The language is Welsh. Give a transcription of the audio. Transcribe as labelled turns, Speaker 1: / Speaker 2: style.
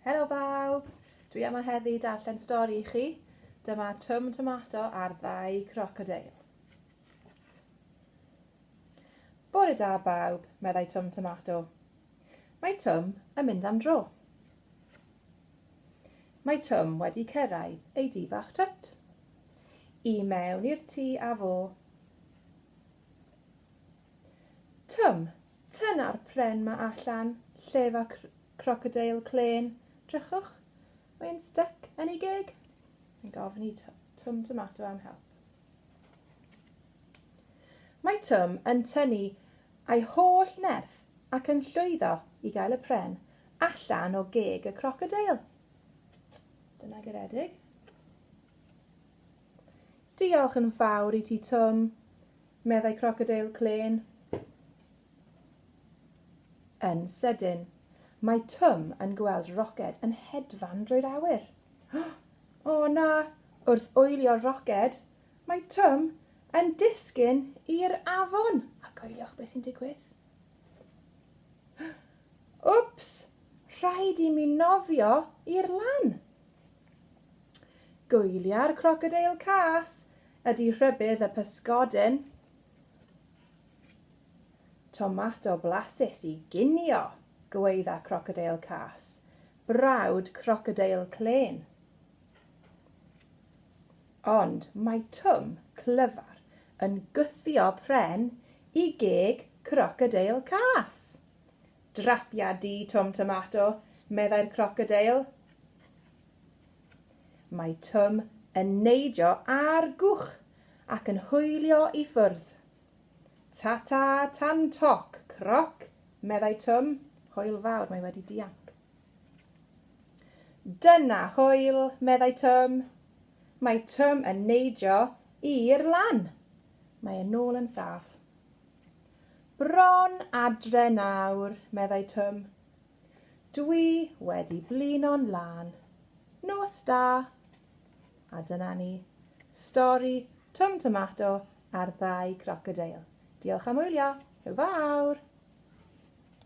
Speaker 1: Helo bawb! Dwi yma heddi darllen stori i chi. Dyma Twm Tomato a'r ddau crocodeil. Bore da bawb, meddai Twm Tomato. Mae Twm yn mynd am dro. Mae Twm wedi cyrraedd ei di bach twt. I mewn i'r tŷ a fo. Twm, Tyna'r pren 'ma allan lle 'fo cr- crocodeil clên, 'drychwch, mae'n styc yn ei geg. Mae'n gofyn i Tw- Twm Tomato am help. Mae Twm yn tynnu ei holl nerth ac yn llwyddo i gael y pren allan o geg y crocodeil. Dyna garedig. Diolch yn fawr i ti Twm. meddai Crocodeil Klên. Yn sydyn, mae Twm yn gweld Roced yn hedfan drwy'r awyr. O na! Wrth oelio Roced, mae Twm yn disgyn i'r afon. A coeliwch beth sy'n digwydd. Wps! Rhaid i mi nofio i'r lan. Gwylia'r crocodeil cas ydy rhybudd y pysgodyn. Tomato blasus i ginio, gweidda crocodeil cas, brawd crocodeil clên. Ond mae Twm clyfar yn gwthio pren i geg crocodeil cas. Drapia di, Twm Tomato, meddai'r crocodeil. Mae Twm yn neidio ar gwch ac yn hwylio i ffwrdd. Ta-ta, tan toc, croc, meddai Twm. Hwyl fawr, mae wedi dianc. Dyna hwyl, meddai Twm. Mae Twm yn neidio i'r lan. Mae e'n ôl yn saff. Bron adre nawr, meddai Twm. Dwi wedi blino'n lân. Nos da! A dyna ni. Stori Twm Tomato a'r ddau grocodeil. Diolch am wylio. Hwyl fawr!